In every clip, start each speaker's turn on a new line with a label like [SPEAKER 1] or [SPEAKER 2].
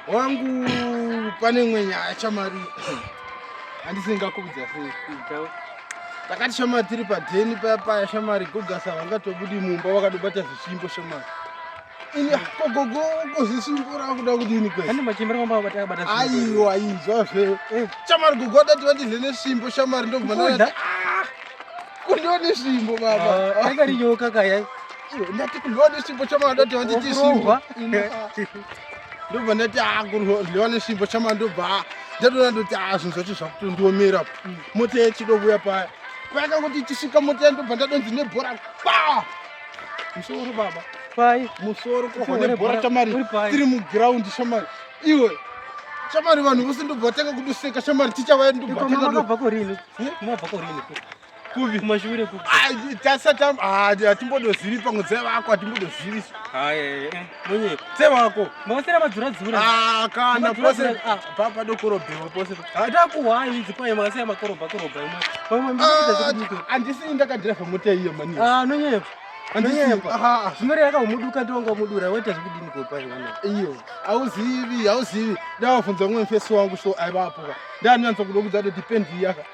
[SPEAKER 1] wangu pane imwe nyaya chamari handisingakubudza sei takati shamari tiri padheni paya paya shamari gogasa vangatobudi mumba vakadobata zvisvimbo shamari ini kogogo kozvisvimbo rakuda kudini kwaiwa
[SPEAKER 2] izwa
[SPEAKER 1] zve eh. shamari gogo adati vatize nesvimbo shamari ndobva kundiwa nesvimbo baba ah, yakarinyoka kaya
[SPEAKER 2] ndati kuryiwa
[SPEAKER 1] nesvimbo chamanda kuti vanditi zvimbo ndobva ndati akuryiwa nesvimbo chamanda ndobva ndatoona ndoti azvinhu zvacho zvakutondiomera mota yechidovuya paya payaka kuti tichisvika mota yandobva ndadonzi nebhora pa musoro baba pai musoro
[SPEAKER 2] kohwa
[SPEAKER 1] nebhora chamari tiri mugiraundi chamari iwe chamari vanhu vose ndobva vatanga kudoseka chamari tichavaendobva
[SPEAKER 2] kurini kuvi kumashure kuvi tasata hatimbodozivi
[SPEAKER 1] pamwe dzai vako hatimbodoziviso
[SPEAKER 2] monye tsai vako
[SPEAKER 1] mavasera madzura dzura
[SPEAKER 2] kana pose
[SPEAKER 1] papa dokorobhewa pose hatakuhwai idzi
[SPEAKER 2] paye mavasera makorobha korobha imwe handisi
[SPEAKER 1] ndakadhirevha mota iyo mani nonyepa
[SPEAKER 2] nonyepa zvimere yakaumuduka ndonga umudura waita zvekudini kopai mwana iyo
[SPEAKER 1] hauzivi hauzivi ndavavhunza umwe mfesi wangu so aivapoka ndanyanza kuda kudza kuti depend yaka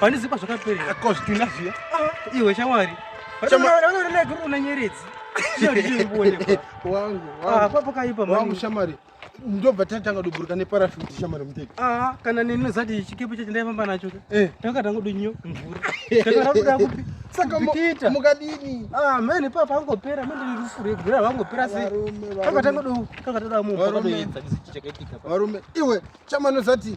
[SPEAKER 2] Pane zikwa zvakaperera. Ko zvitunha zviya.
[SPEAKER 1] Ah, iwe shamwari.
[SPEAKER 2] Vanoona guru una nyeredzi. Wangu.
[SPEAKER 1] Ah, papo kaipa mani. Wangu shamwari. Ndobva tatanga doburuka neparachute shamwari muteki. Ah, kana nini nozati
[SPEAKER 2] chikepe chacho ndaifamba nacho. Eh. Takatanga kudonyo mvura. Takatanga kuda kupi? Saka mukita.
[SPEAKER 1] Mukadini. Ah, mene papa
[SPEAKER 2] angopera mimi ndikufure gura vangopera sei. Takatanga do takatanga munhu. Varume. Iwe
[SPEAKER 1] chamano zati